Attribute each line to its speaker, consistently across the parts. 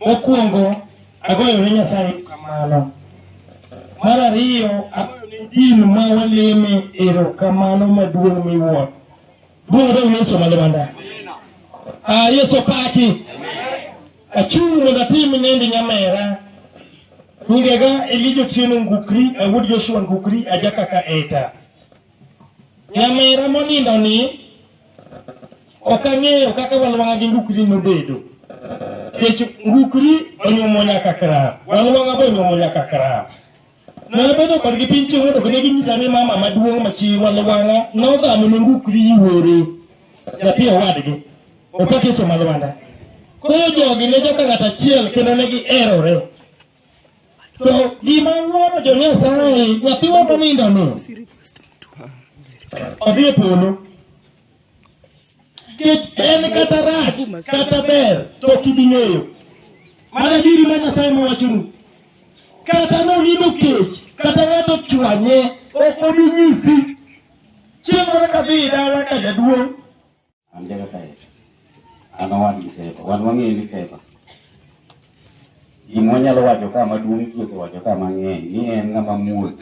Speaker 1: Mokwongo, agoyo ne Nyasaye erokamano. Mar ariyo, agoyo ne din ma waleme erokamano maduong' miwuoro. Duong' odog ne Yesu malo manda. Ah, Yesu paki. Achung' mondo atim nende nyamera. Nyingega Elijo Tieno Ngukri, awuod Joshua Ngukri, ajakaka eta. Nyamera monindo ni ok ang'eyo kaka walwang'a gi ngukri nobedo. Kech ngukri onyuomo nyaka krap, walwang'a be onyuomo nyaka krap. Nabedo kodgi piny chieng' mondo kene ginyisa ni mama maduong' machi walwang'a nodhamo ne ngukri yuore nyathi owadgi opatiso malwanda. Koro jogi ne joka ng'at achiel kendo ne giherore. To gima wuoro jo Nyasaye, nyathiwa monindono odhi e polo. Nikech en kata rach kata ber to ok ibi ng'eyo. Mana diri ma Nyasaye mowachonu. Kata nonindo kech, kata ng'ato ochwanye, ok obi nyisi. Chieng' moro kadhi dala ka jaduong' An Jakataya. An owadgi Sefa. Wan wang'eyo ni Sefa. Gima wanyalo wacho ka maduong' ji osewacho ka mang'eny ni en ng'ama muol.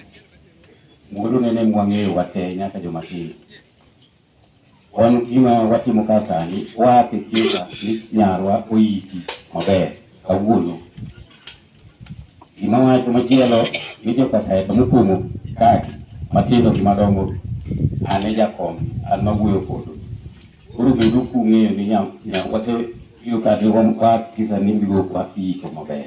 Speaker 1: Muolo nene mwang'eyo wate nyaka joma tindo. Wan gima watimo ka sani, waake kieka ni nyarwa oyiki maber kawuono. Gima wacho machielo ni jokateka mokumo kati matindo gi madongo an e jakom an mawuoyo kodu. Koro bedu kung'eyo ni nya nya wase yudo ka jogo kwa kisa ni bigo kwa kiiko maber.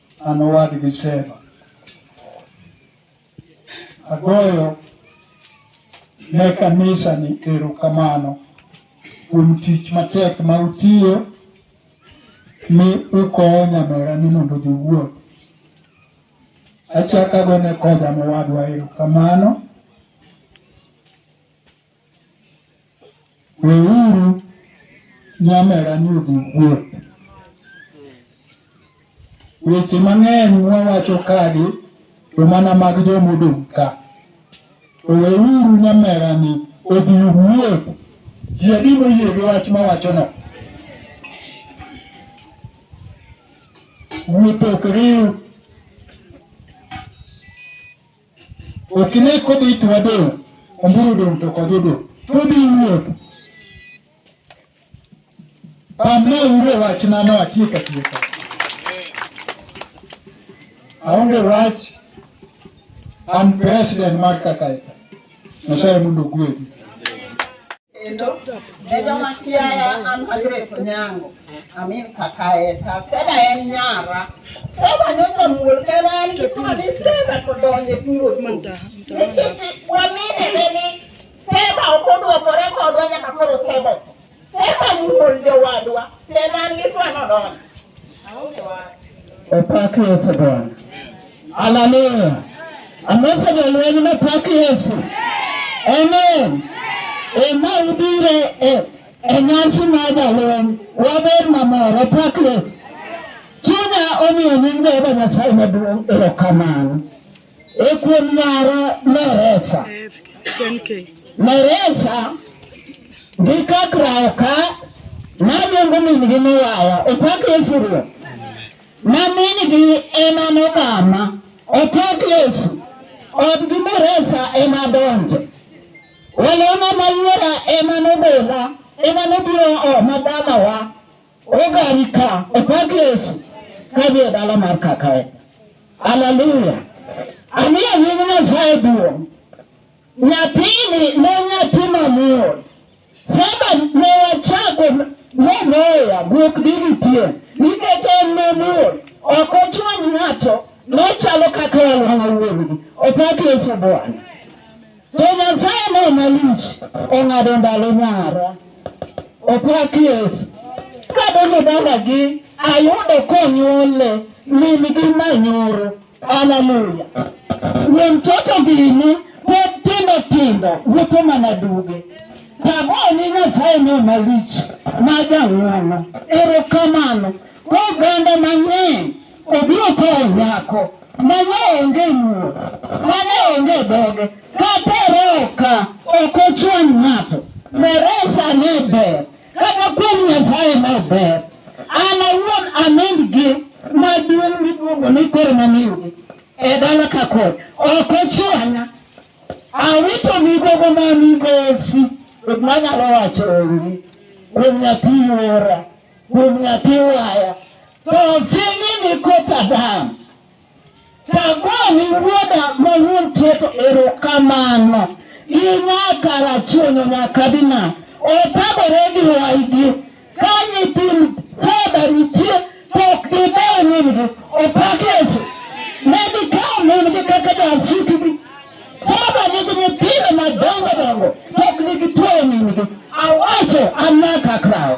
Speaker 1: An owadgi Sheba. Agoyo ne kanisa ni erokamano kuom tich matek ma utiyo mi ukowo nyamera ni mondo odhi wuoth. Achako agone Koja mowadwa erokamano Weuru nyamera ni odhi wuoth. Weche mang'eny mwawacho kagi to mana mag joma odong' ka. To weuru nyamera ni odhi wuoth. Ji adi moyie gi wach mawachono? Wuoth ok riw Ok ine kodhi to wadong', omburu dong' to kodhi odong'. Kodhi wuoth. Pamna uro wachna no atiek atieka. Aonge wach an president mar Kakaika. Nyasaye mondo ogwedhi. kendo e joma kiaya an Margaret Onyango amin kaka eta Seba en nyara Seba nyoka muol kena en kisima ni Seba kodonje piro nikiti wamine neni Seba okodwokore kodwa nyaka koro Seba Seba muol jowadwa kena an kiswa nodonje Opak Yesu Bwana. Haleluya. Amose jolweny ne pak Yesu. Amen. Ema ubiro e, e nyasi mar jalweny. Waber mamor. Opak Yesu. Chunya omiyo nying Jehova Nyasaye maduong' erokamano. E kuom nyare Meresa. Meresa gi kakrawo ka naluongo min-gi ni waya opak Yesu Ruoth. Ma min-gi ema nogama opak Yesu odgi Meresa ema donje. Walona mayuora ema nogola ema nobiro oma dalawa. Ogari ka opak Yesu kadhi e dala mar kakae. Haleluya. Amiyo nying Nyasaye duong'. Nyathini ne nyathi mamuol. Saba ne wachako ne moya guok dini pien nikech en mamuol ok ochwany ng'ato nochalo kaka walwang'a wuon-gi. Opak Yesu Bwana. To Nyasaye ne malich ong'ado ndalo nyara. Opak Yesu. Kadonjo dalagi, ayudo konyuole min gi manyoro. Haleluya. Ni mtoto gini pod tindo tindo wuotho mana duge. Tagoni Nyasaye ne malich ma jang'wono. Erokamano. Kwa oganda mang'eny obiro kawo nyako mane onge muo mane onge dhoge kata roka ok ochwany ng'ato meresa ne ber kata kuom nyasaye ne ber an awuon anend gi maduong' miluongo ni koro mamiyugi e dala ka kod ok ochwanya awito migogo ma migosi manyalo wacho onge kuom nyathi ora kuom nyathi waya to sing'i ni koth Adam. Tagoni wuoda ma wuon keto erokamano gi nyaka rachuonyo nyaka dina otagore gi waygi ka nyithind fedha nitie to ok gidewo min-gi opak Yesu ne gikawo min-gi kaka jasitgi fedha nigi nyithindo madongo dongo to ok nigitueyo min-gi awacho an nyaka krawo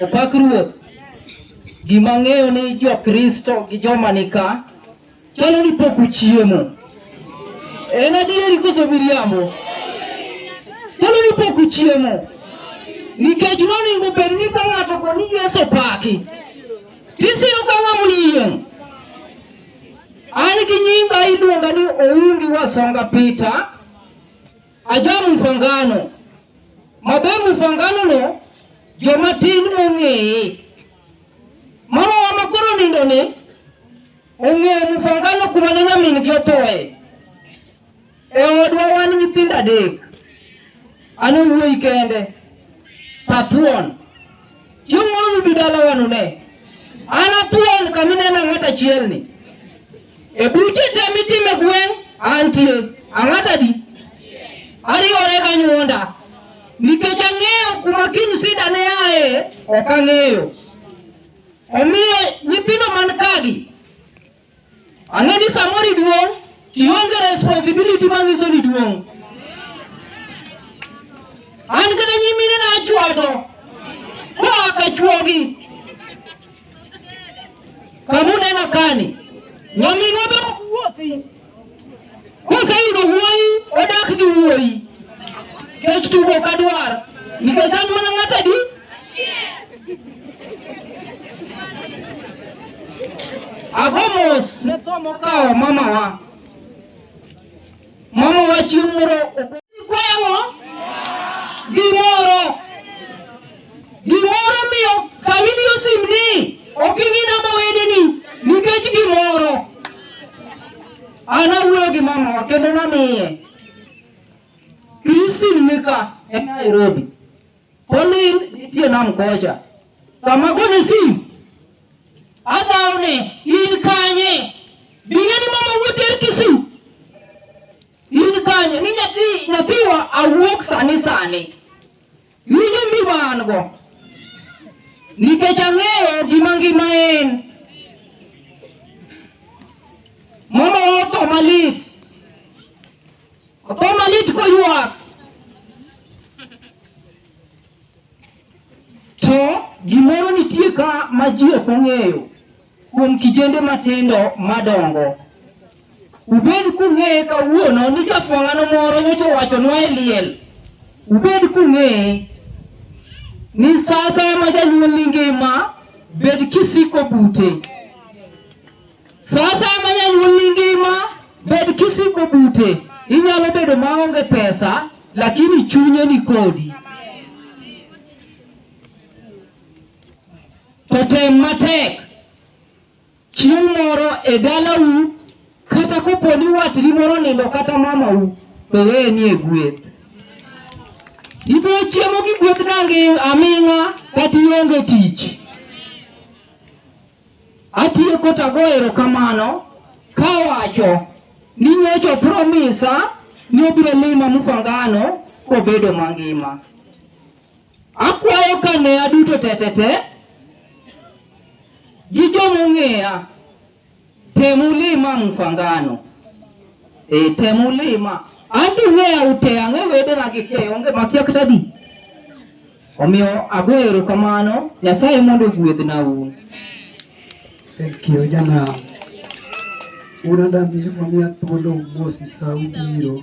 Speaker 1: Opak Ruoth. Gima ang'eyo ni Jokristo gi joma nika chalo ni pok uchiemo. En adieri koso miriambo? Chalo ni pok uchiemo. Nikech nonego bed ni ka ng'ato go ni Yesu paki. Tisiro ka ng'ama oyieng'. An gi nyinga iluonga ni Oungi Wasonga Peter. Ajaro mfangano. Maber mfangano no joma tin ong'eye. Mama wa makoro nindo ni ong'eyo mfangano kuma ne nyamin gi othoe. E odwa wan nyithindo adek. An wuoyi kende. Tatuon. Chieng' moro nubi dalawa nune. An athuon kama inena ng'at achiel ni. E buche te mitime gweng' antie. Ang'at adi? Ariwore ka nyuonda. Nikech ang'eyo kuma kiny sida ne aye, ok ang'eyo. Omiyo nyithindo man kagi Ang'e ni samoro iduong' ionge responsibility manyiso ni duong'. An kata nyimine na achwato koa ka chwogi. Kamu neno kani, nyaminwa be ok wuothi. Koseyudo wuoyi odak gi wuoyi. Kech tugo ok adwar. Nikech an mana ng'at adi? Ago mos ne tho mokawo mamawa. Mamawa chieng' moro ok- Kwaya ang'o? Gimoro. Gimoro miyo famili osim ni ok ing'i namba wedeni nikech gimoro. An awuoyo gi mama kendo namiye. Christine nika e Nairobi. Pauline nitie nam kocha. Sama gone sim, adhawo ni in kanye? Bing'e ni mama wuote er Kisii. In kanye? Ni nyathi nyathiwa awuok sani sani. Winjo mbiba an go nikech ang'eyo gima ngima en. Mama otho malit, otho malit koywak to gimoro nitie ka ma ji ok ong'eyo. kuom kijende matindo madongo. Ubed kung'eye kawuono ni jafwang'ano moro nyocha owachonwa e liel. Ubed kung'eye ni sa asaya ma janyuol ni ngima, bed kisiko bute. Sa asaya ma janyuol ni ngima, bed kisiko bute. Inyalo bedo maonge pesa, lakini chunye ni kodi. to tem matek chieng' moro e dalau kata kopo ni watni moro nindo kata mamau to weye ni e gweth ibiro chiemo gi gweth nangi aming'a kata ionge tich atieko tago erokamano kawacho ni nyocho promisa ni obiro lima mufangano kobedo mangima Akwayo ka ne aduto tetete gi jomong'eya temulima mkwangano e eh, temulima anto ng'eya ute ang'e wedena gi te onge makia kata di omiyo ago erokamano nyasaye mondo ogwedhna un thank you jana unadambizikwa mia thuolo mosi sa ubiro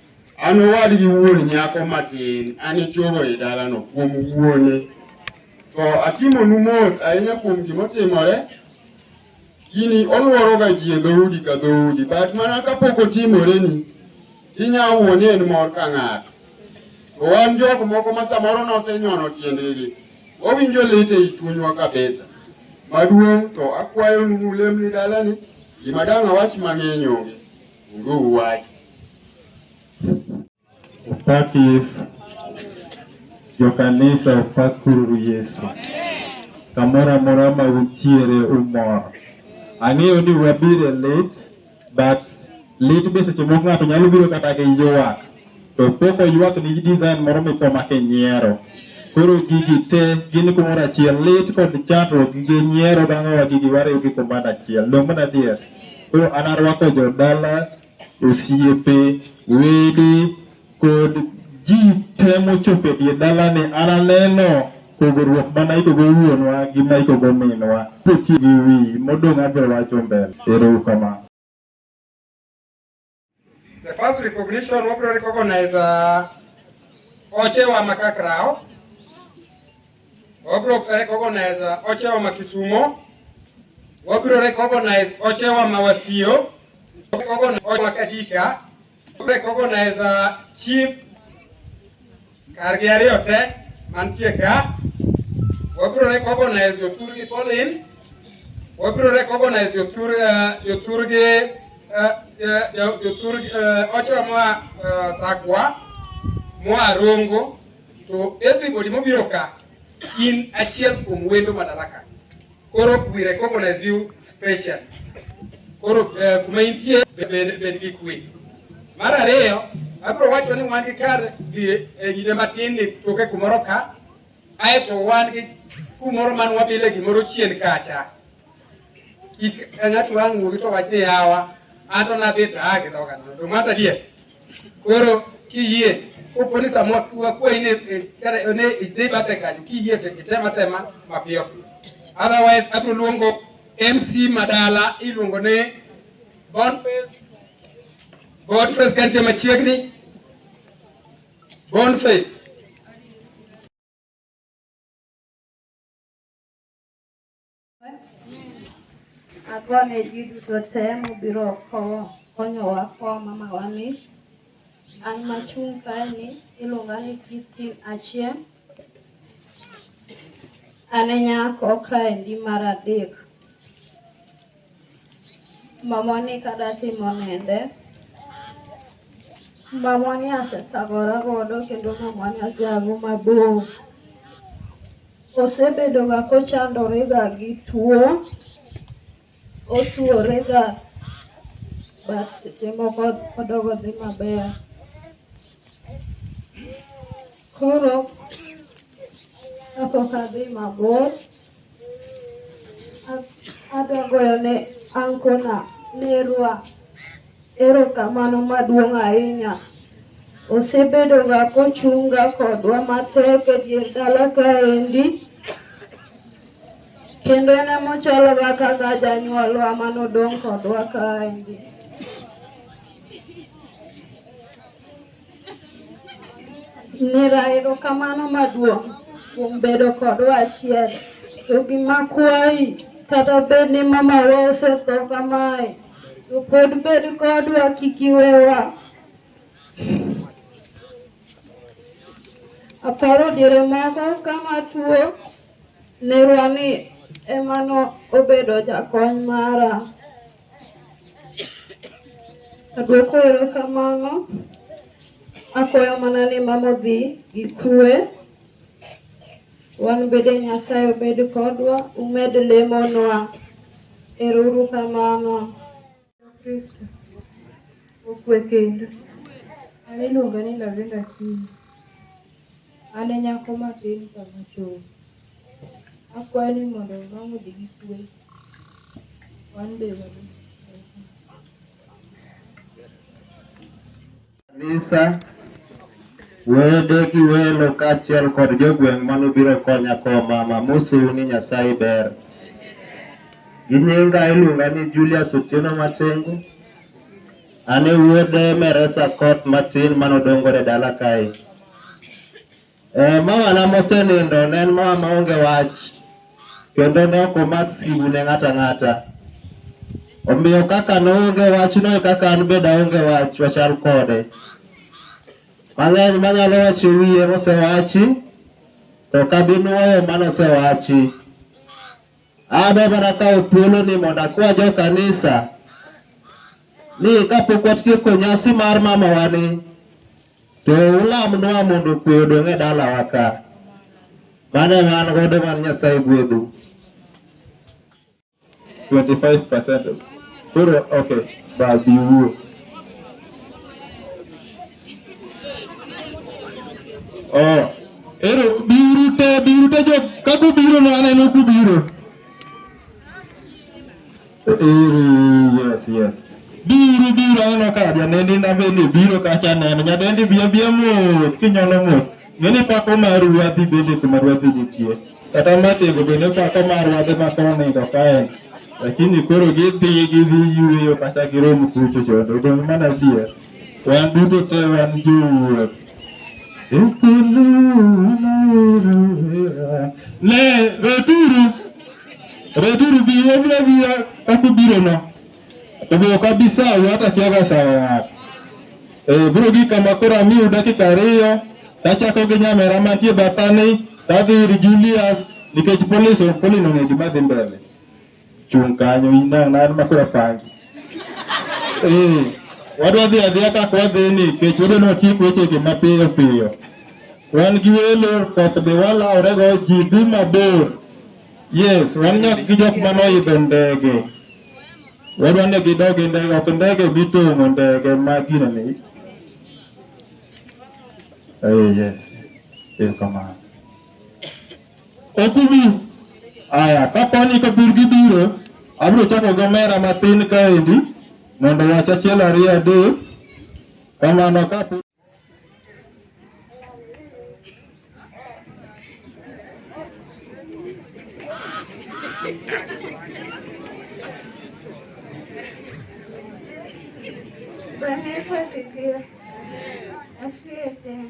Speaker 1: An owadgi wuon nyako matin, an ichuogo e dalano kuom wuone. To atimonu mos ahinya kuom gima otimore. Gini olworoga ji e dhoudi ka dhoudi, but mana kapok otimoreni, inyalo wuoni en mor ka ng'ato. To wan jok moko ma samoro nosenyono tiendegi, wawinjo lit ei chunywa kabisa. Maduong' to akwayo nu ulemni dalani, gima dang' awach mang'eny onge. Nguu wach. Opak Yesu. Jokanisa opakuru Yesu. Kamoro amora ma untiere umor. Ang'eyo ni wabiro e lit, but lit be seche moko ng'ato nyalo biro kata gi ywak. to pok oywak ni design moro mikoma kinyiero koro gigi te gin kumoro achiel lit kod chandruok gi nyiero dang'owa gigi wariw gi kumoro achiel dong' mana adier koro an arwako jodala osiepe wede kod ji te mochopo e die dalani an aneno pogruok mana ikogo wuonwa gi ma ikogo minwa kotiyo gi wi modong' abiro wacho mbele ero uru kamano The first recognition wabiro recognize uh, Oche wa Makakrao. Wabiro recognize uh, Oche wa Makisumo. Wabiro recognize Oche wa Mawasio. Recognize Oche wa Kadika. Wabiro recognize uh, Chief Kargi ariyo te mantie ka, wabiro recognize jotur gi Pauline, wabiro recognize jotur eh, jotur gi eh, eh, jo- jotur gi, eh, Ochola moa eh, Sakwa, moa Rongo, to everybody mobiro ka in achiel kuom wendo Madaraka. Koro we recognize you special. Koro eh, kuma intie bed bed gi kwe. Mar ariyo, abiro wacho ni wan gi kar dhi e nyine matin ni toke kumoro ka, aeto wan gi kumoro man wabile gimoro chien kacha. Kik ng'ato wang' wuogi to wach ni yawa, an to nadhi to aa gi dhoga nono. To mata die, Koro kiyie kopo ni sama wakwayi ni eh, kata eh, ne idhi bathe kanyo kiyie to item atema mapiyo piyo. Otherwise abiro luongo MC Madala iluongo ni Boniface Boniface kantie machiegni Boniface Agwa ne ji duto te mobiro konyowa kwa mamawa ni an machung' kae ni iluonga ni Christine Achieng'. An e nyako kaendi mar adek. Mamoni kada timo nende. Mamoni asethagora godo kendo mamoni aseago mabor. Osebedoga kochandorega gi tuo, otuorega but seche moko odogo dhi maber. Koro kapok adhi mabor, adwa goyo ne ankona nerwa erokamano maduong' ahinya. Osebedoga kochunga kodwa matek e dier dala kaendi kendo en emochaloga kaka janyuolwa manodong' kodwa kaendi. Nera erokamano maduong' kuom bedo kodwa achiel. To gima kwayi, kata bed ni mamawa osetho kamae, to pod bed kodwa kik iwewa. Aparo diere moko kama tuo nerwa ni ema no obedo jakony mara. Adwoko erokamano. Akwayo mana ni mama odhi gi kwe. Wan bende Nyasaye obed kodwa, umed lemonwa. Ero uru kamano. Kristo okwe kendo. An iluonga ni Lavenda Kiyo. An e nyako matin ka machon. Akwayo ni mondo wang' odhi gi kwe. Wan be wadhi. kanisa, wede gi welo kaachiel kod jogweng' mano biro konya kowo mama mosuru ni Nyasaye ber. Gi nyinga iluonga ni Julius Otieno Matengu, An e wuod Meresa Koth matin manodongore dala kae. Eh, mawana mosenindo ne en mawa maonge wach kendo ne ok omak simu ne ng'ato ang'ata. Omiyo kaka noonge wachno e kaka an bende aonge wach wachal kode. Mang'eny manyalo wacho e wiye mosewachi to ok abi nwoyo mane osewachi. Adwa mana kawo thuoloni mondo akwa jo kanisa ni kapok watieko nyasi mar mamawani to ulamnwa mondo kwe odong' e dalawa ka. Mano ema an godo man Nyasaye gwedhu. 25%. Koro okay, babiwuo. Oh, ero biuru te biuru te jo kaku biuru no aneno ku biuru. Ero yes yes. Biuru biuru aneno ka janendi na bende biuru kacha neno nyadendi biya biya mos kinyalo mos. Ngeni pako mar ruadhi bende kuma ruadhi nitie. Kata matego bende pako mar ruadhi ma konindo kaen. Lakini koro gidhi gidhi yueyo kata girom kucho chondo. Odong' mana bier. Wan duto te wan jowuoth. Ne, returu, returu bi wabira bira kaka ubirono. To be ok abi sawu hata kiaga sawo ng'ato. Eh, biro gi kama koro amiu dakika ariyo, tachako gi nyamera mantie bathani, tadhi ir Julius nikech polis polino ng'e gima dhi mbele. Chung' kanyo inang' nan ma koro pangi. Eh, wadwa dhi adhiya kaka wadhi ni kech wadwa ni watiek wechegi mapiyo piyo. Wan gi welo koth be walaworego ji dhi mabor. Yes, wan nyaka gi jok ma noidho ndege. Wadwa ni gidog e ndege, ok ndege mitong'o ndege ma gino ni. Eh, yes. Erokamano. Ok ubi. Aya, kapo ni kapur gibiro, abiro chako gi omera matin kaendi mondo wach achiel ariyo adek. Kamano kapo Bwana Yesu asifiwe. Asifiwe tena.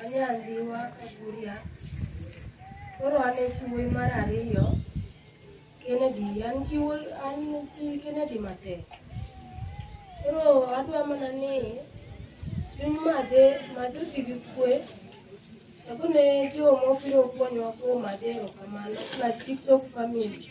Speaker 1: Anya Ndhiwa Kaguria. Koro an e chi wuoyi mar ariyo. Kennedy, an chi wuoyi, an chi Kennedy matek. Koro adwa mana ni chuny madhe madhe oti gi kwe. Ako ne jo mobiro konyowa kuom madhe erokamano. Plus TikTok family.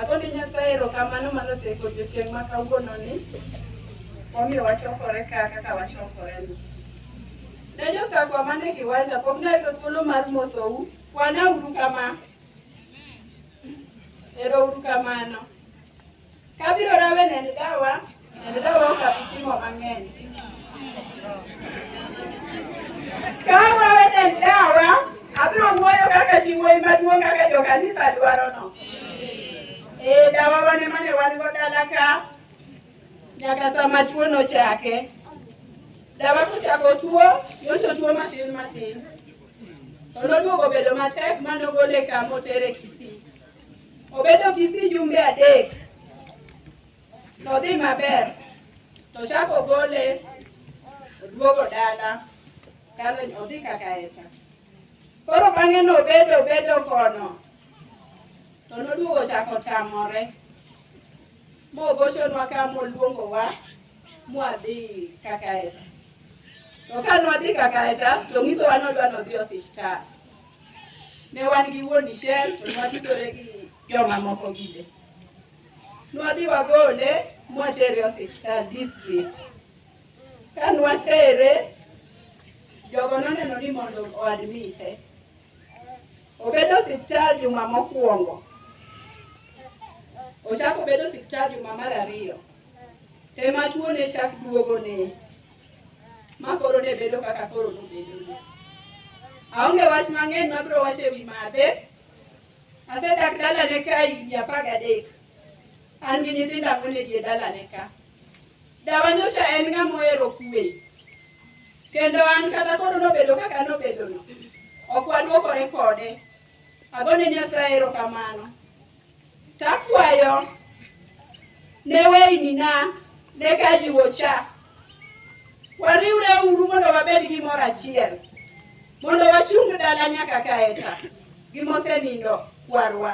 Speaker 1: Ago ni Nyasaye erokamano ma noseko odiechieng' ma kawuononi momiyo wachokore ka kaka wachokoreni. Ne josakwa man e kiwanja pok nayudo thuolo mar mosou, kwanauru kama. Erouru kamano. Kabiro rawe nend dawa Ka wawe en dawa, abiro wuoyo kaka chi wuoyi maduong' kaka jo kanisa dwarono. Ee, dawa wan ema ne wan go dala ka nyaka sama tuo nochake. Dawa kochako tuo, nyoso tuo matin matin. To noduogo bedo matek ma nogole kama otere Kisii. Obedo Kisii jumbe adek. Nodhi maber, to chak ogole oduogo dala kalo odhi kaka echa. Koro bang'e nobedo bedo kono, to noduogo chak otamore, mogochonwa ka moluongowa mwadhi kaka echa. To ka nwadhi kaka echa, to ng'isowa nodwa nodhi e osiptal. Ne wan gi wuon dichiel, to nwadhitore gi jomamoko gide. nwadhi wagole mwatere osiptal district ka nwatere jogo noneno ni mondo oadmite obedo osiptal juma mokwongo ochako obedo osiptal juma mar ariyo ema tuo ne chak duogo ne ma koro ne bedo kaka koro nobedo aonge wach mang'eny mabiro wacho e wi madhe Asedak dalane ka higni apar gadek. An gi nyithindo ang'wen e dier dalane ka. Dawa nyocha en ng'ama ohero kuwe. Kendo an kata koro nobedo kaka nobedono, ok wadwokore kode. Agone Nyasaye erokamano. Takwayo ne weyni na ne kajiwo cha Wariwre uru mondo wabed gi mor achiel, mondo wachung dala nyaka kaeta gi mosenindo kwarwa.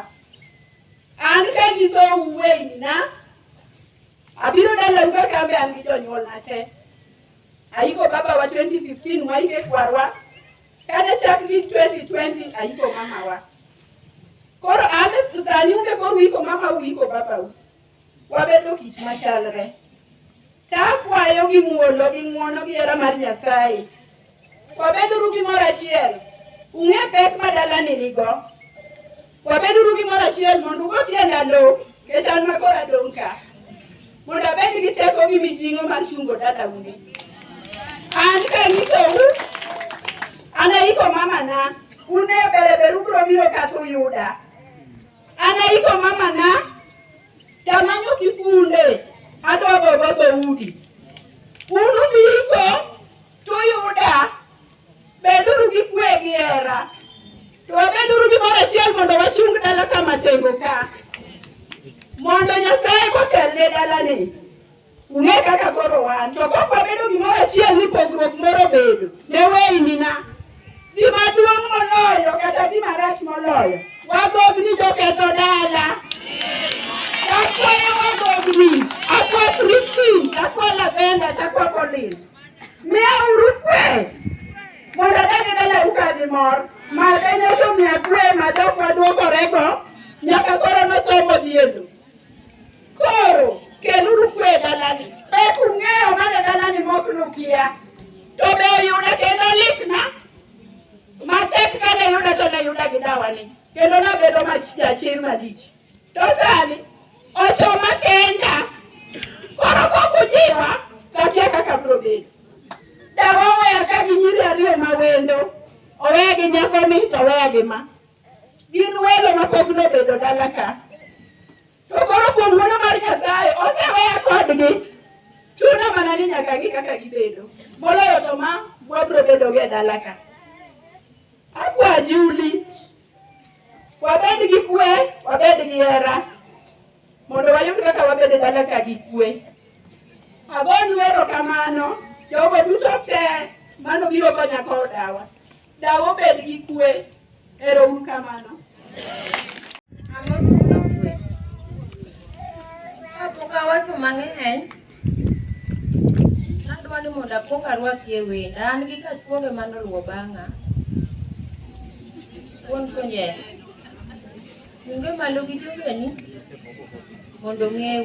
Speaker 1: An kanyisou weyina, abiro dalau kaka an be an gi jonyuolna te. Ayiko babawa 2015 waike kwarwa, kata chak gi 2020 ayiko mamawa. Koro an sani un be koro uiko mamau uiko babau. wabedo kit machalre. To akwayo gi muolo gi ng'wono gi hera mar Nyasaye, wabeduru gi mor achiel, ung'e pek ma dalani nigo. Wabeduru gi mor achiel mondo ugo tienda lo, nikech an ma koro adong' ka, mondo abed gi teko gi mijing'o mar chungo dalauni. An kanyisou, anaiko mamana, un e bereberu biro biro kata uyuda. Anaiko mamana, tamanyo kifunde, adogo go dhoudi. Un ubiko, to uyuda, beduru gi kwe gi hera. To wabeduru gimoro achiel mondo wachung dala kama tengo ka. Mondo Nyasaye motelne dalani, Ung'e kaka koro wan, to kok wabedo gimoro achiel ni pogruok moro bedo, ne weynina. Gima duong' moloyo kata gima rach moloyo, wagog ni joketho dala. Takwayo wagogni, akwa Kristi, takwa Lavenda, takwa Colin. Miya uru kwe, mondo adane dala uka gi mor. Made nyoso miya kwe ma jok maduokorego, nyaka koro nosomo diendo. Koro keluru kwe e dalani. Be ung'eyo mana dalani mok nukia? To be oyuda kendo litna? Matek ka ne yuda to ne yuda gi dawani. Kendo nabedo mach jachir malich. To sani ochoma kenda. Koro kok ujiwa to akia kaka biro bedo. Dawa oweya ka gi nyiri ariyo ma wendo. Oweya gi nyakoni to oweya gi ma. Gin welo mapok nobedo dala ka. To koro kuom wuono mar Nyasaye oseweya kodgi. Chuno mana ni nyaka gi kaka gibedo. Moloyo to ma wabro bedo go e dala ka. Akwa Juli. Wabed gi kwe, wabed gi hera. Mondo wayud kaka wabed e dala ka gi kwe. Agonu erokamano jogo duto te mano biro konya kodawa. Dawa obed gi kwe. Ero uru kamano. Kapok awacho mang'eny, adwa ni mondo akwong arwaki e wenda. An gi kachwoge mane oluwo bang'a. Wuon Konye, chunge malo gi jogeni mondo ong'eu.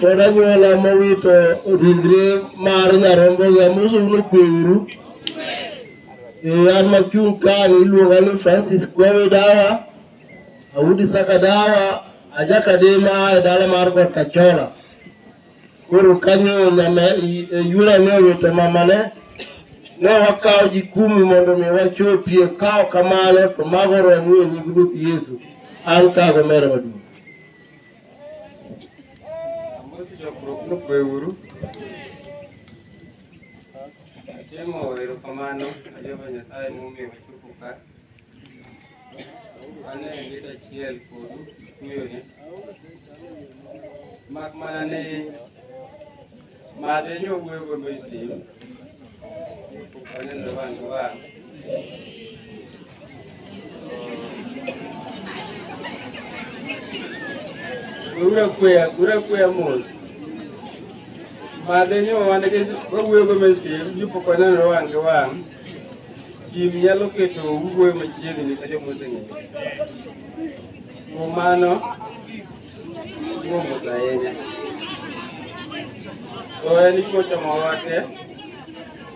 Speaker 1: kod anyuola mowito ringre mar nyarombogi amoso uno kweuru an machung' kani iluonga ni francis kwawe dawa awudi saka dawa ajakadema e dala mar got kachola koro kanyo nyama yula ne owito mamane ne wakawo jikumi mondo mi wachopie kawo kamano to mago romu e nying ruoth yesu an kago mere maduong' Amosi jokruok nokwe uru. Atimo erokamano ne Jehova Nyasaye momiyo wachopo ka. Wan e liet achiel kodu kuyone. Mak mana ni Mane yo wuego Misri, waneno wang' gi wang'. Ura kuya, ura kuya mos. Mane yo wan gi wawuego Misri, yupo waneno wang' gi wang'. Sim nyalo keto wuoyo machiegni ka jomoseng'eyo. Kuom mano, Kuomos ahinya. To en ikochomo wate,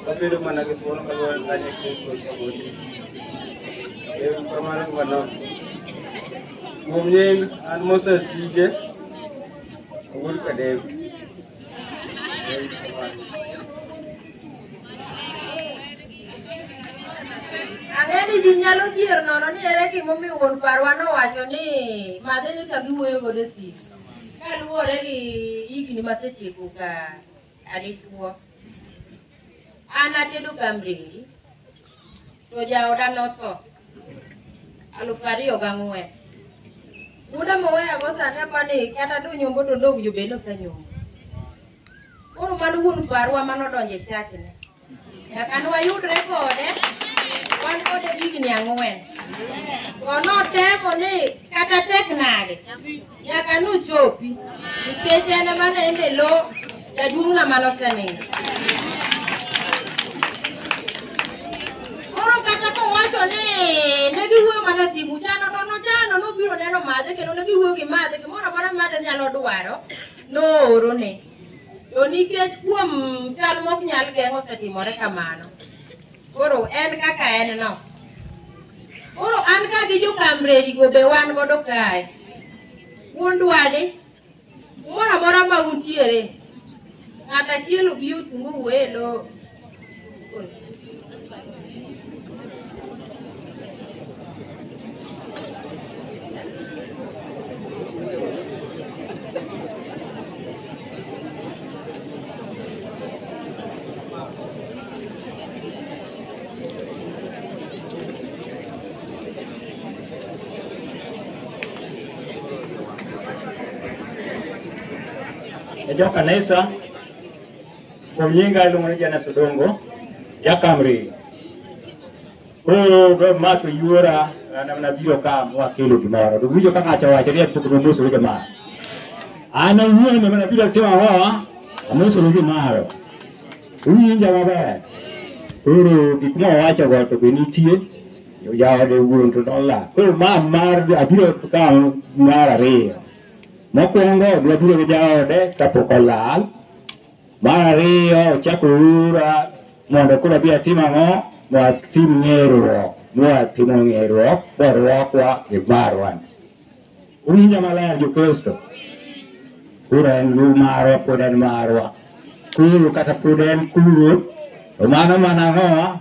Speaker 1: wabedo mana gi thuolo ka goyo kanye Kristo ochomoji. Ero kamano gi manok. Kuom nying an Moses Ige, Ogul Kadem. Ero kamano. Ang'e ni ji nyalo dhier nono ni ere gimomiyo wuon parwa nowacho ni madhe ni ka giwuoyo godo e simu kaluwore gi higni masetieko ka adichuo. An atedo kamreri to jaoda notho alufu ariyo gang'wen. Muda moweyago sani apa ni kata donyombo to dog jobed nosenyombo. Koro mano wuon parwa manodonjo e chachne. Nyaka nwayudre kode, wan kode higni ang'wen. To notemo ni kata tek nade, nyaka nuchopi, nikech en ema ne en e lo jaduong'na mane osenindo. Koro kata kowacho ni ne giwuoyo mana simu chano to nochano nobiro neno madhe kendo ne giwuoyo gi madhe gimoro amora madhe nyalo dwaro noorone. To nikech kuom chal mok nyal geng' osetimore kamano, koro en kaka en no. Koro an ka gi jokamreri go be wan godo kae. Un dwade, kumoro amora ma untiere, ng'at achiel obi ochung' owuo e lo Ejo kanisa Kuom nyinga iluongo ni Janes Odongo, Jakamri. Koro be ma to yuora na na biro ka mwa kelo gimoro. To winjo ka ng'ato wacho ni pok no musu gi ma. An awuon ma na biro timo ho, amusu gi maro. Winjo maber. Koro gik ma wacho go to be nitie. Jaode wuon to nola. Koro ma mar abiro ka mar ariyo. Mokwongo abiro gi jaode kapok olal. Mar ariyo ochako ura mondo koro abi atim ang'o? Watim ng'eruok, watimo ng'eruok, warwakwa e barwa. Winja maler Jokristo, koro en lu marwa, pod en marwa. Kuru kata pod en kuru, to mano mana ang'o?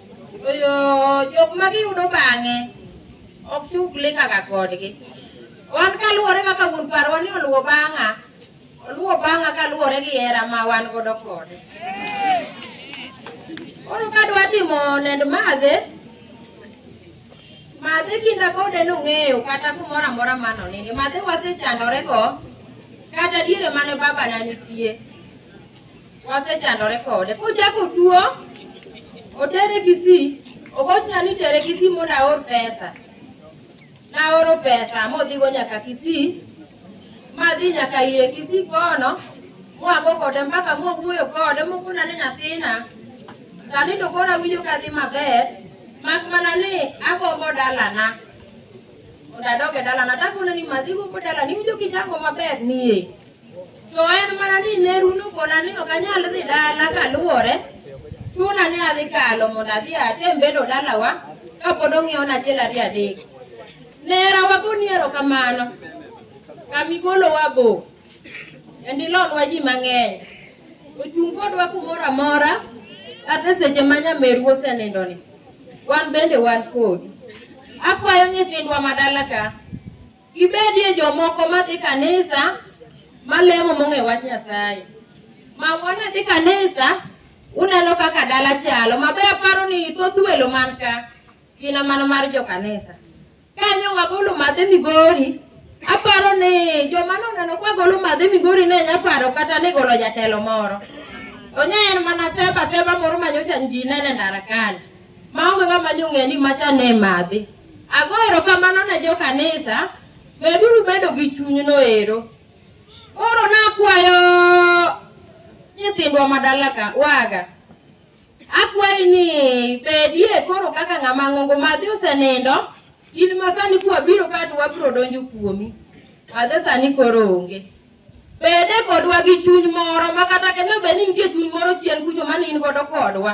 Speaker 1: Oyo jok ma giyudo bang'e ok chuk likaga kodgi. Wan kaluwore kaka wuon parwa ni oluwo bang'a, oluwo bang'a kaluwore gi hera ma wan godo kode. Koro ka dwa timo nend madhe, madhe kinda kode nong'eyo kata kumoro amora mano nini, madhe wasechandorego kata diere mane babana nitie. wasechandore kode kochako tuo otere kisii ogochna ni tere kisii mondo aor pesa naoro pesa modhigo nyaka kisii madhi nyaka ire kisii kono mwago kode mpaka mwawuoyo kode mokona ni nyathina sani to koro awinjo ka dhi maber mak mana ni agombo dalana mondo adoge dalana takone ni madhigo ko dalani iwinjo kichako maber nie To en mana ni ne rundo koda ni ok anyal dhi dala kaluwore, chuna ni adhi kalo mondo adhi atem bedo dalawa kapod ong'iewona achiel ariyo adek. Nera wagoni erokamano kamigolowa bo kendo ilonwa ji mang'eny ochung' kodwa kumoro amora kata seche ma nyameru osenindoni wan bende wan kodi akwayo nyithindwa madala ka Gibedie jomoko madhi kanisa malemo mong'e wach Nyasaye. Ma wana dhi kanisa uneno kaka dala chalo. Mabe aparo ni thoth welo man ka gin mana mar jo kanisa. Kanyo wagolo madhe Migori, aparo ni joma noneno kwa golo madhe Migori ne nya paro kata ni golo jatelo moro. Onye en mana seba seba moro manyocha ji nene ndara kani. maonge ng'ama ni ong'e ni macha ne madhi. Ago erokamano ne jo kanisa, meduru bedo gi chunyno ero. Koro nakwayo nyithindwa madala ka waga. Akwayi ni bedie koro kaka ng'ama ng'ongo madhi osenindo, in ma sani kwabiro ka to wabiro donjo kuomi. Madhe sani koro onge. Bede kodwa gi chuny moro ma kata kendo bed ni nitie chuny moro chien kucho mane in godo kodwa.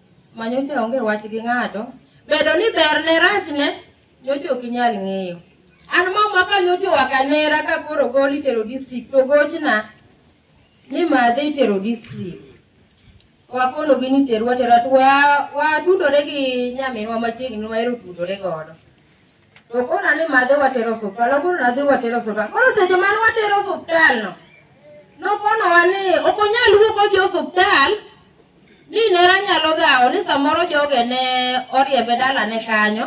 Speaker 1: ma nyocha onge wach gi ng'ato, bedo ni berne rachne nyocha ok inyal ng'eyo. An mama ka nyocha owaka nera ka koro gol itero district to gochna ni madhe itero district. Wakonogi ni terwa tera to wa- watudore gi nyaminwa machiegni ma ero tudore godo. To kona ni madhe watero osuptal, akono nadhi watero osuptal. Koro seche mane watero osuptal no, nokonowa ni ok onyal wuok odhi osuptal ni nera nyalo dhawo ni samoro joge ne oriembe dalane kanyo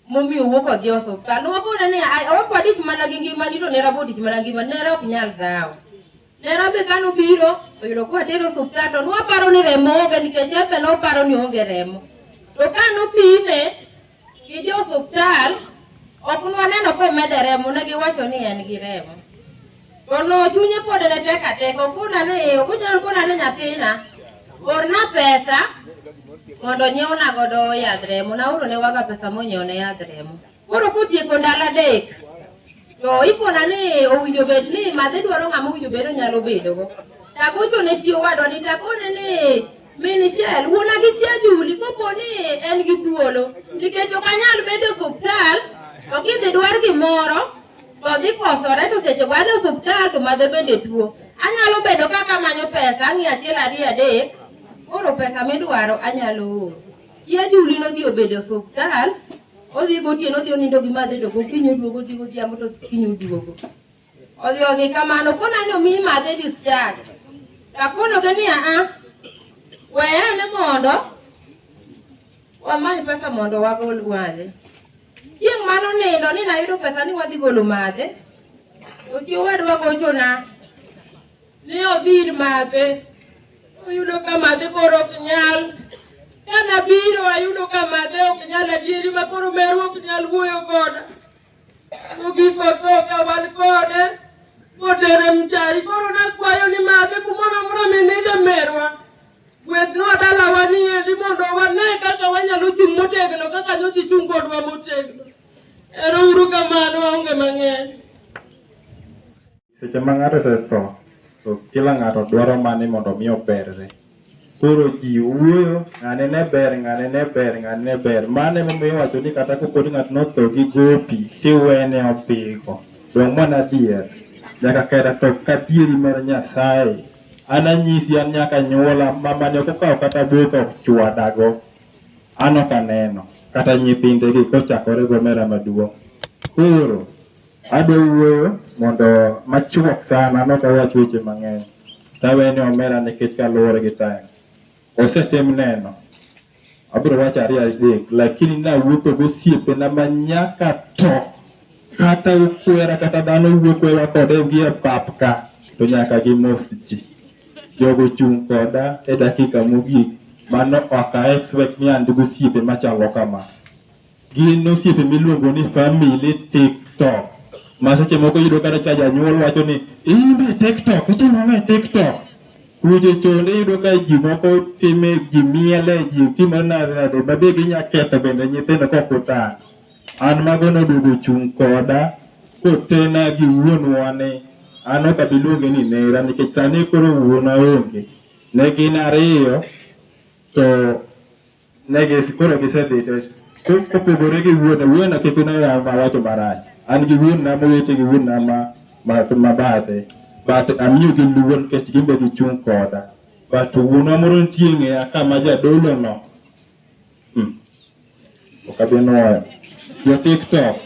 Speaker 1: momiyo wuok odhi osuptal. Nowakone ni "Ai, ok wadich mana gi ngimani to nera bodich mana gi ngimani, nera ok nyal dhawo. Nera be kane obiro oyudo ka watere osuptal to nwaparo ni remo onge nikech en be noparo ni onge remo. To ka nopime gi jo osuptal ok nwaneno ka omede remo ne giwacho ni en gi remo. To no chunye pod ne tek atek okuna ni okunyal kuna ni nyathina orna pesa mondo onyiewna godo yadh remo naoro ne waga pesa monyiewne yadh remo. Koro kotieko ndalo adek to ikona ni owinjo bed ni madhe dwaro ng'ama owinjo bed onyalo bedogo. Tagocho ne chi owadwa ni takone ni min Shell wuona gi chia Juli kopo ni en gi thuolo nikech ok anyal bedo e osuptal to kidhi dwar gimoro to dhi kosore to seche go adhi e osuptal to madhe bende tuo. Anyalo bedo kaka amanyo pesa ang'iyo achiel ariyo adek koro pesa midwaro anyalo oro. Chi ajuli nodhi obedo e osuptal, odhi gotieno odhi onindo gi madhe to gokinyi oduogo odhi godhiambo to kinyi oduogo. Odhi odhi kamano kona ni omiyi madhe discharge. Takonoga ni aa, weye ane mondo wamany pesa mondo wagol madhe. Chieng' mane onindo ni nayudo pesa ni wadhi golo madhe, to chi owadwa gochona Ne odhi ir madhe, oyudo ka madhe koro ok nyal. Ka nabiro ayudo ka madhe ok nyal adieri ma koro meru ok nyal wuoyo koda. Mogik otho ka wan kode, kotere mchari. Koro nakwayo ni madhe kumoro amora minide merwa. Gwedhnwa dalawa ni endi mondo wane kaka wanyalo chung' motegno kaka nyothi chung' kodwa motegno. Ero uru kamano aonge mang'eny. Seche ma ng'ato osetho, to kila ng'ato dwaro mana ni mondo omi oberre. Koro ji wuoyo, ng'ane ne ber, ng'ane ne ber, ng'ane ne ber. Mano emomiyo iwacho ni kata kopo ni ng'ato notho gi gopi, tiwene odhigo. Donge mano adier? Nyaka kera to kadieri mar Nyasaye. An anyisi an nyaka nyuola, mamani ok okawo kata boka ok chwadago. An ok aneno, kata nyithindegi kochakore gomera maduong'. Koro Adwa wuoyo mondo machuok sana nok awach weche mang'eny. Tawe ni omera nikech kaluwore gi time. Osetim neno. Abiro wacho ariyo adek lakini nawuotho gosiepena ma nyaka to kata ukwera kata dhano wuokwewa kode gi e pap ka to nyaka gimos ji. Jogo chung' koda e dakika mogik mano ok a expect ni an gi osiepe machalo kama. gin osiepe miluongo ni family tiktok ma seche moko iyudo kata ka janyuol wacho ni in be tiktok itimo ang'o e tiktok weche chonde iyudo ka ji moko time ji miele ji timo nade nade ma be ginya ketho bende nyithindo kok utang' an mago noduogo chung' koda kotena gi wuonwa ni an ok abi luonge ni nera nikech sani koro wuona onge ne gin ariyo to Ne gis- koro gisedhi to ko- kopogore gi wuona wuona kik ne oyaw ma wacho marach an gi wuonna mowete gi wuonna ma ma ma bathe but amiyo gi luor nikech gin be gichung' koda but wuonwa moro nitie e ng'eya ka ma jadolo no Hmm. ok abi nuoyo jo tiktok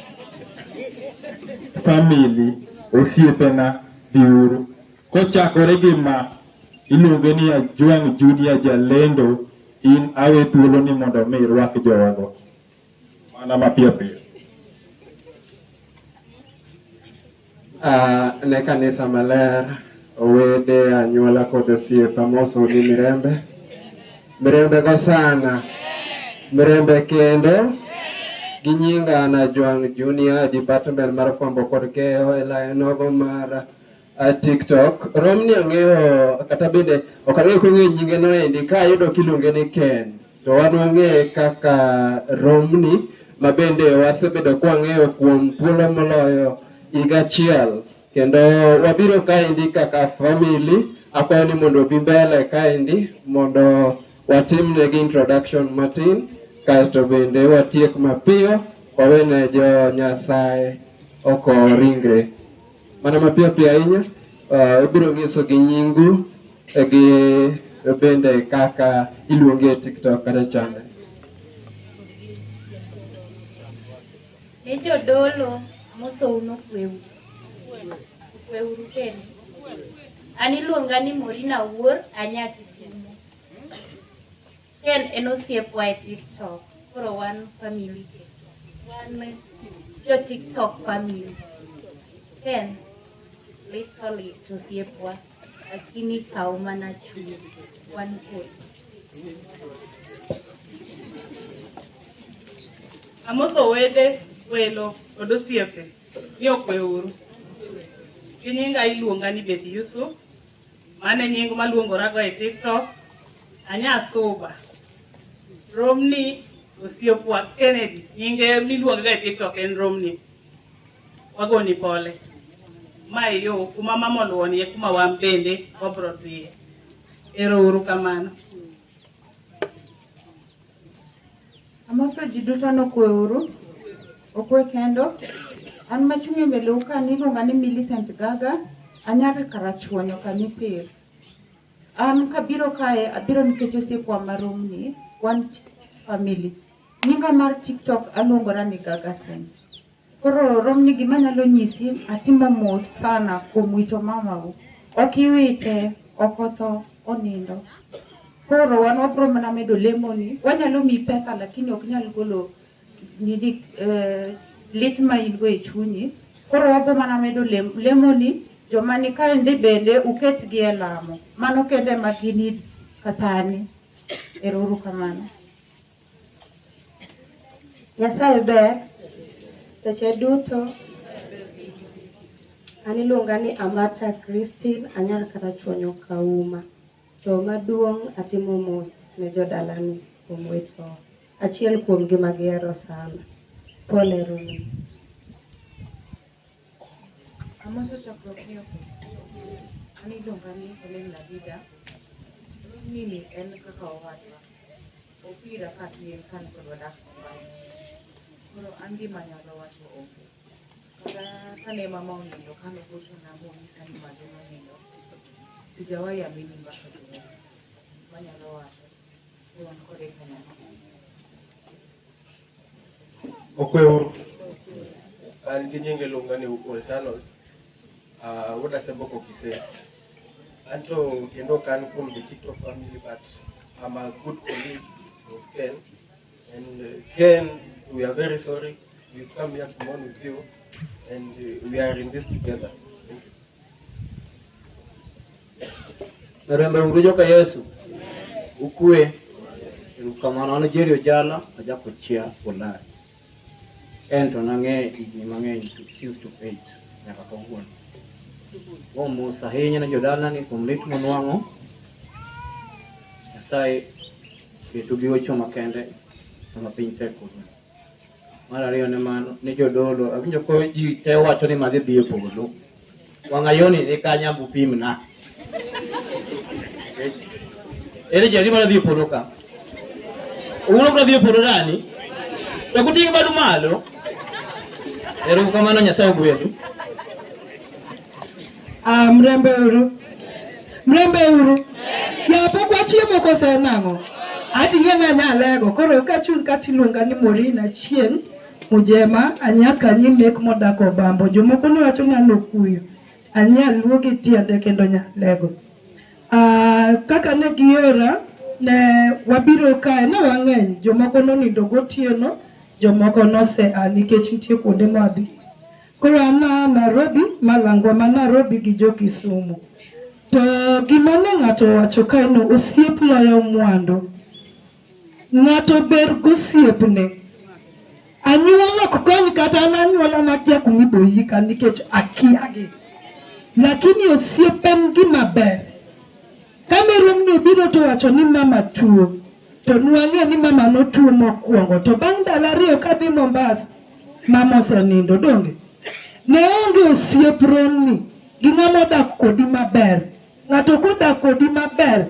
Speaker 1: family osiepena biuru Kochakore gi ma, iluonge ni Ajwang' Junior Jalendo, in awe thuolo ni mondo mi irwak jogo. Mana mapiyo piyo. Ah, ne kanisa maler, owede, anyuola kod osiepe amosu gi mirembe. Mirembe go sana. Mirembe kendo. Gi nyinga an Ajwang' Junior, Department mar Fwambo kod Keyo e lainogo mar uh, TikTok. Romni ang'eyo kata bende ok ang'eyo kong'eyo nyinge no endi ka ayudo kiluonge ni Ken to wan wang'eye kaka Romni ma bende wasebedo kwang'eyo kuom thuolo moloyo higa achiel kendo wabiro kaendi kaka family akwayo ni mondo obi mbele kaendi mondo watimnegi introduction matin kasto bende watiek mapiyo wawene jo Nyasaye oko ringre. Mana mapiyo piyo ahinya, ah, ibiro nyiso gi nyingu eh, gi bende kaka iluongi e TikTok kata channel. Ne jodolo mosou nokweu. Okweuru kendo. An iluonga ni Morina Wuor, anya Kisumo. Ken en osiepwa e TikTok. Koro wan family TikTok. Wan jo TikTok family. Ken literally osiepwa lakini kaw mana chunyi. Wan kod. Amoso wede, welo, kod osiepe ni okweuru. Gi nyinga iluonga ni Beth Yusuf, Mane nying maluongorago e TikTok, anya suba. Romni osiepwa Kennedy, nyinge miluongaga e TikTok en Romni. Wagoni pole. Ma e yo kuma mama oluwonie kuma wan bende wabro dhiye. Ero uru kamano. Amoso ji duto nokwe uru, okwe kendo. An machung' e mbele uka niluonga ni Millicent Gaga, anyar Karachuonyo Kanipir. An kabiro kae, abiro nikech osiepwa maromni, wan family. Nyinga mar TikTok aluongora ni Gaga Saint. Koro romni gima nyalo nyisi atimo mos sana kuom wito mamau. Ok iwite, ok otho, onindo. Koro wan wabro mana medo lemoni. Wanyalo miyi pesa lakini ok nyal golo nini eh, lit ma in go e chunyi. Koro wabro mana medo lem, lemoni. Joma ni kaendi bende uketgi e lamo. Mano kende ma ginid kasani. Ero uru kamano. Nyasaye ber seche duto. An iluonga ni Amata Christine, anyal kata chuonyo kauma. To maduong' atimo mos ne jodalani kuom wito achiel kuomgi ma gihero sana. Pole Rumi. Amoso chokruok ni ok an iluonga ni Helen Nadida. Mimi en kaka owadwa. Opira ka tin ka an kod wadak Mombasa. Koro an gima anyalo wacho onge. Kata kane mama onindo kane ogochona monyisa ni magi nonindo, sijawahi amini mbaka duong'. Manyalo wacho ni wan kode kanyakla. Okweuru. An gi nyinge luonga ni Ukol Channel. Uh, wuod Aseboko Kisee. Anto kendo ok an kuom the TikTok family but I'm a good colleague of Ken. And uh, Ken, we are very sorry. We come here to mourn with you and uh, we are in this together. Thank you. Rembe uru joka Yesu. Ukwe. Erukamano an Jerry Ojala, ajako chia Ulaya. En to nang'eyo higni mang'eny to since to eight nyaka kawuono. Kuom mos ahinya ne jodalani kuom lit monwang'o. Nyasaye keto gi wecho makende sama piny tek kawuono. Mar ariyo ne mano ne jodolo, awinjo ko ji te wacho ni madhi dhi e polo. Wang'ayoni ni kanya mupimna. Ere jari mana dhi e polo ka? Uno kuna dhi e polo dani? To kuting' badu malo. Ero kamano Nyasaye ogwedhu. Ah, mrembe uru. Mrembe uru. Ya pok wachiemo kose nang'o? Ati ing'e ni anyalego. Koro kachun kati iluonga ni Morin Achieng' Mujema, anyaka nyi mek modak Obambo. Jomoko nowacho ni an Okuyu. Anyaluo gi tiende kendo nyalego. Ah, kaka ne giora ne wabiro kae ne wang'eny jomoko nonindo gotieno jomoko nose a nikech nitie kuonde ma wadhi Koro an a Nairobi malangwa ma Nairobi gi jo Kisumu. To gima ne ng'ato owacho kae no osiep loyo mwandu. Ng'ato ber gosiepne. Anyuola ok kony kata an anyuola nakia kuma ibiro yika nikech akiagi. Lakini osiep en gima ber. Kane romni obiro to wacho ni mama tuo. to nwang'e ni mama notuo mokwongo to bang' ndalo ariyo kadhi Mombasa mama osenindo donge ne onge osiep romni gi ng'ama odak kodi maber ng'ato kodak kodi maber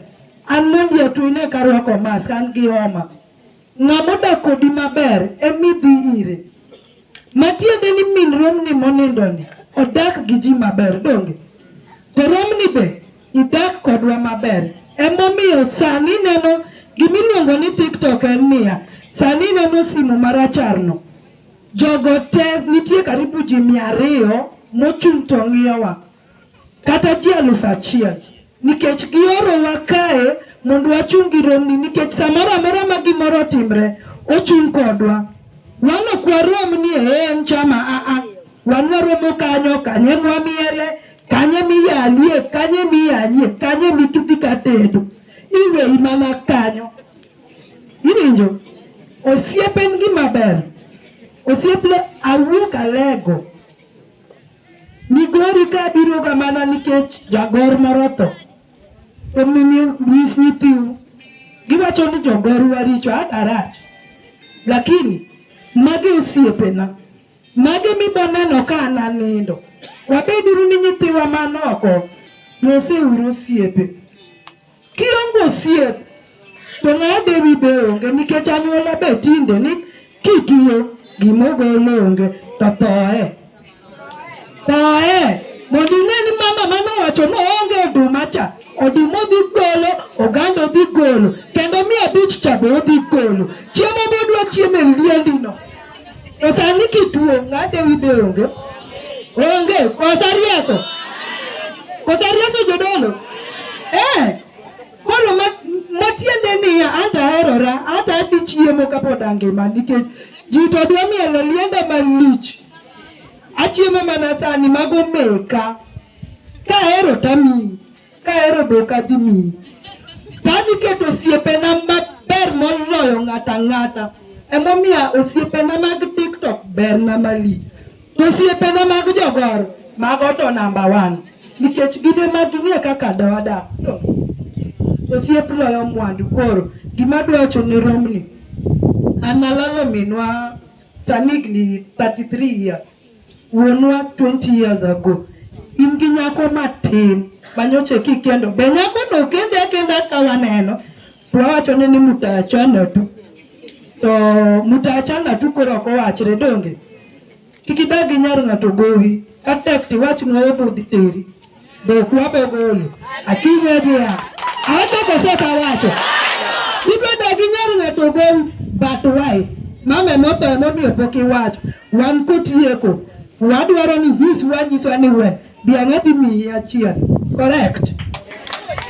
Speaker 1: an mondi atwine karwako mask an gi homa ng'ama odak kodi maber emidhi ire Matiende ni min romni monindoni odak gi ji maber donge? To romni be idak kodwa maber. Emomiyo sani neno gimiluongo ni TikTok en niya, sani neno simu maracharno. Jogo te nitie karibu ji mia ariyo mochung' to ng'iyowa. kata ji alufu achiel nikech giorowa kae mondo wachung' gi romni nikech samoro amora ma gimoro otimre ochung' kodwa wan ok warom ni ee en chama aa wan waromo kanyo kanye mwamiele kanye miyalie kanye miyanyie kanye mitudhi katedo iweyi mana kanyo iwinjo osiep en gima ber osiep le awuok alego Migori ka biro ga mana nikech jagor moro tho. Omiyo nyis nyithiu. Giwacho ni jogor waricho adarach. Lakini magi osiepena. Magi miboneno ka an anindo. Wabeduru ni nyithiwa man oko. Loseuru osiepe. Kionge osiep to ng'awa dewi be onge nikech anyuola be tinde ni kituo gimogolo onge to thoe thoe mondo ing'e ni mama mane owacho ni oonge oduma cha oduma odhi golo oganda odhi golo kendo mia abich cha be odhi golo chiemo modwa chiemo e liendino To sani kituo ng'ade wi be onge. Onge, kosa rieso. Kosa rieso jodolo. Eh, koro ma matiende niya anta herora anta adhi chiemo kapod angima nikech ji to dwa mielo lienda malich achiemo mana sani mago meka ka hero tamiyi Kahero dok adhi miyi. To adhi keto osiepena maber moloyo ng'ato ang'ata. Emomiyo osiepena mag TikTok berna malich. To osiepena mag jogor mago to namba one. Nikech gin ema ging'e kaka dawadak. To Osiep loyo mwandu koro. Gima adwa wacho ne romni. An alalo minwa sani higni 33 years. wuonwa 20 years ago in gi nyako matin manyoche kikendo be nyako no kende akenda ka waneno to wawacho ni ni mutachana tu to mutachana tu koro ok owachre donge kik idag gi nyar ng'ato gowi ka tek tiwachnwa obudhi teri Dokwa Bogolo, achung' e dhiang'. Awacho koso ok awacho? Ibedo gi nyar ng'ato ogol but why? Mama emotho emomiyo pok iwacho. Wan kotieko, wadwaro ni jis wanyiswa ni we dhiang' adhi miyi achiel. Correct?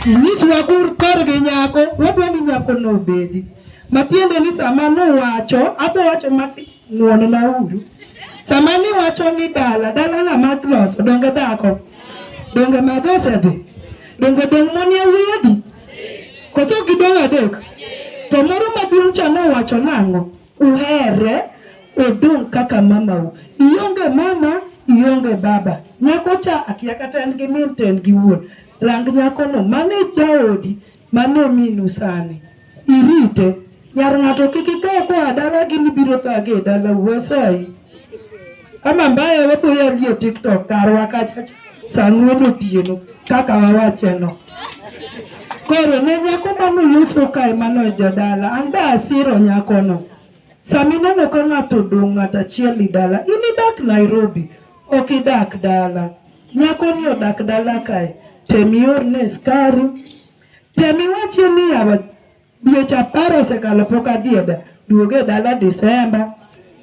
Speaker 1: Nyiswa kur kor gi nyako, wadwa ni nyako nobedi. Matiende ni sama nowacho, abowacho mati Ng'wonna uru. Sama niwacho ni dala, dala na mag loso, donge dhako? Donge mag osedhi? Donge dong' mon ya wiyedi? Koso ok gidong' adek? To moro maduong' cha nowacho nang'o? Uhere, odong' kaka mamau. Ionge mama, ionge baba. Nyako cha akia kata en gi min to en gi wuon. Rang nyakono, mano e jaodi. Mane minu sani. Irite. Nyar ng'ato kik ikaw koa dala gini biro thage e dala uwasayi. Ama mbaye waboya liyo TikTok karwa kacha sang'wen otieno kaka wawacheno. Koro ne nyako mano loso kae mano e jodala an be asiro nyakono. Sami neno ka ng'ato odong' ng'ato achiel i dala in idak Nairobi ok idak dala. Nyakoni odak dala kae, tem iorne skari, tem iwachie ni yawa dweche apar osekalo pok adhi e da- duoga e dala Disemba.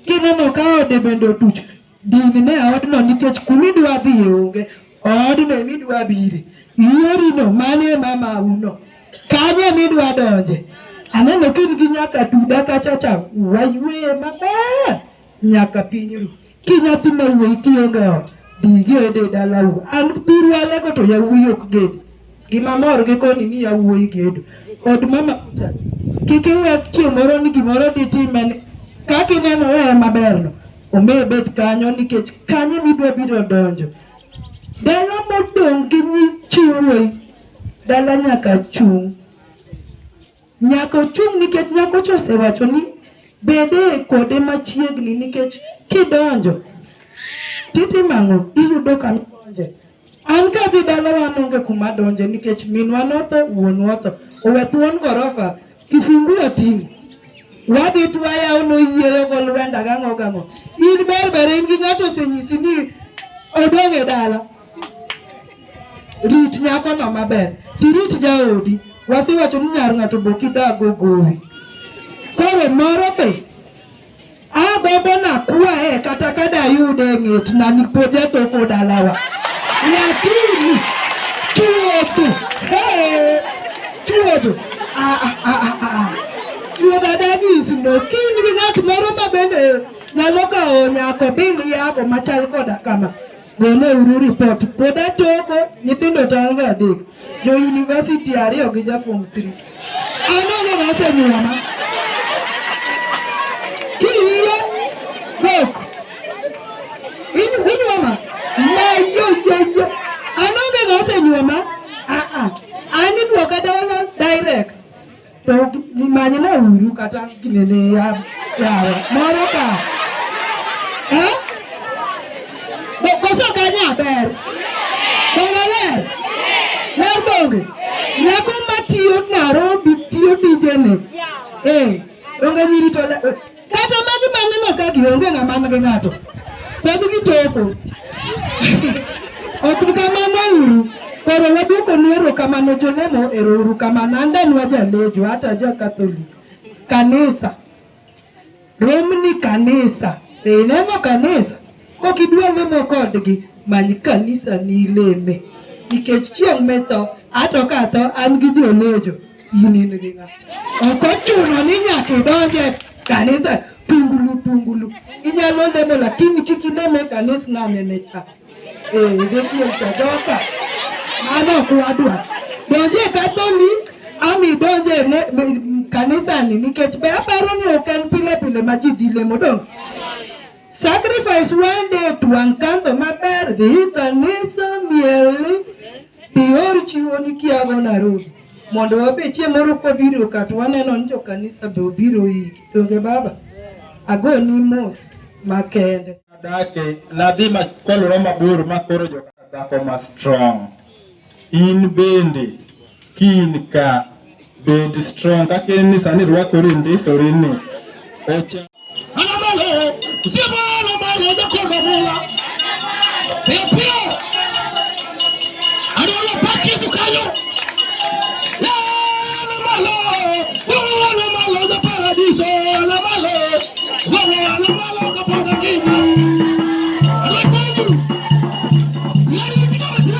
Speaker 1: Kineno ka ode bende otuch, din ne odno nikech kumidwa dhiye onge, odno emidwa bire. Yorino mano e mamauno, kanyo emidwa donje. Aneno ka in gi nyaka tuda kacha cha, waywe maber nyaka piny ru. Ki nyathi ma wuoyi kionge ot, dhi igede e dalau. An biru alego to yawuoyi ok ged. Gima mor gi koni ni yawuoyi gedo. Od mama Peter, kik iwe chieng' moro ni gimoro ditime ni kaka ineno e maberno, omi bet kanyo nikech kanyo midwa biro donjo. Dala modong' gi nyi chi wuoyi, dala nyaka chung'. Nyaka ochung' nikech nyakocha osewacho ni bede kode machiegni nikech kidonjo titimo ang'o iyudo ka donje an ka dhi dalawa nonge kuma donje nikech minwa notho wuonwa otho owe thuon gorofa kifungu oting'o wadhi twayawo noyieyo go lwenda gang'o gang'o in berber in gi ng'ato osenyisi ni odong' e dala Rit nyakono maber, tirit jaodi. Wasewacho ni nyar ng'ato bok idago gowi. Koro moro be agombo nakwaye kata ka dayude e ng'et na nikod jatoko dalawa. Lakini chuodho, hey, chuodho, ah, ah, ah, ah, ah, ah. Chuodho adagis no, kind gi ng'at moro ma bende nyalo kawo nyako biliyago machal koda kama. Gole uru report. Pod atoko nyithindo taonge adek. Jo university ariyo gi ja form 3. Aneno ma osenyuoma. Kiyiyo kok. In unyuoma. Ma yo yo yo. Anonge ma osenyuoma. Ah ah. Ani duoka dawa direct. to manyna uru kata ginene yawa moro ka eh? koso kanya ber dongaler ler donge nyako matiyo Nairobi tiyo dijene eh, donge nyiri to Kata magi maneno ka gionge ng'ama nigi ng'ato. Pod gitoko. Ok kamano uru. Koro waduoko ni erokamano jolemo ero uru kamano. An danwa jalejo hata ja Catholic. Kanisa. Romni kanisa. Be ineno kanisa? Kok idwa lemo kodgi, many kanisa ni ileme. Nikech chieng' mitho, ato ka atho, an gi jolejo, in in gi ng'a. Ok ochuno ni nyaka idonj e kanisa tungulu tungulu. Inyalo lemo lakini kik ilem e kanis ng'anene cha. Eh, Ezekiel cha joka. Mano ok wadwa. Donj e Catholic, ama idonj e ne- m- kanisani nikech be aparo ni ok en pile pile ma ji dhi lemo dong'. Sacrifice one day to Ankanto maber dhi kanisa mieli dior chiwo ni kiago Nairobi mondo wabe chieng' moro kobiro ka to waneno ni jokanisa be obiro iki donge baba ago ni mos makende Dake, nadhi ma- koluro mabor makoro joka dhako ma strong. In bende kin ka bed strong kaka en ni sani rwakori ndisori ni ocha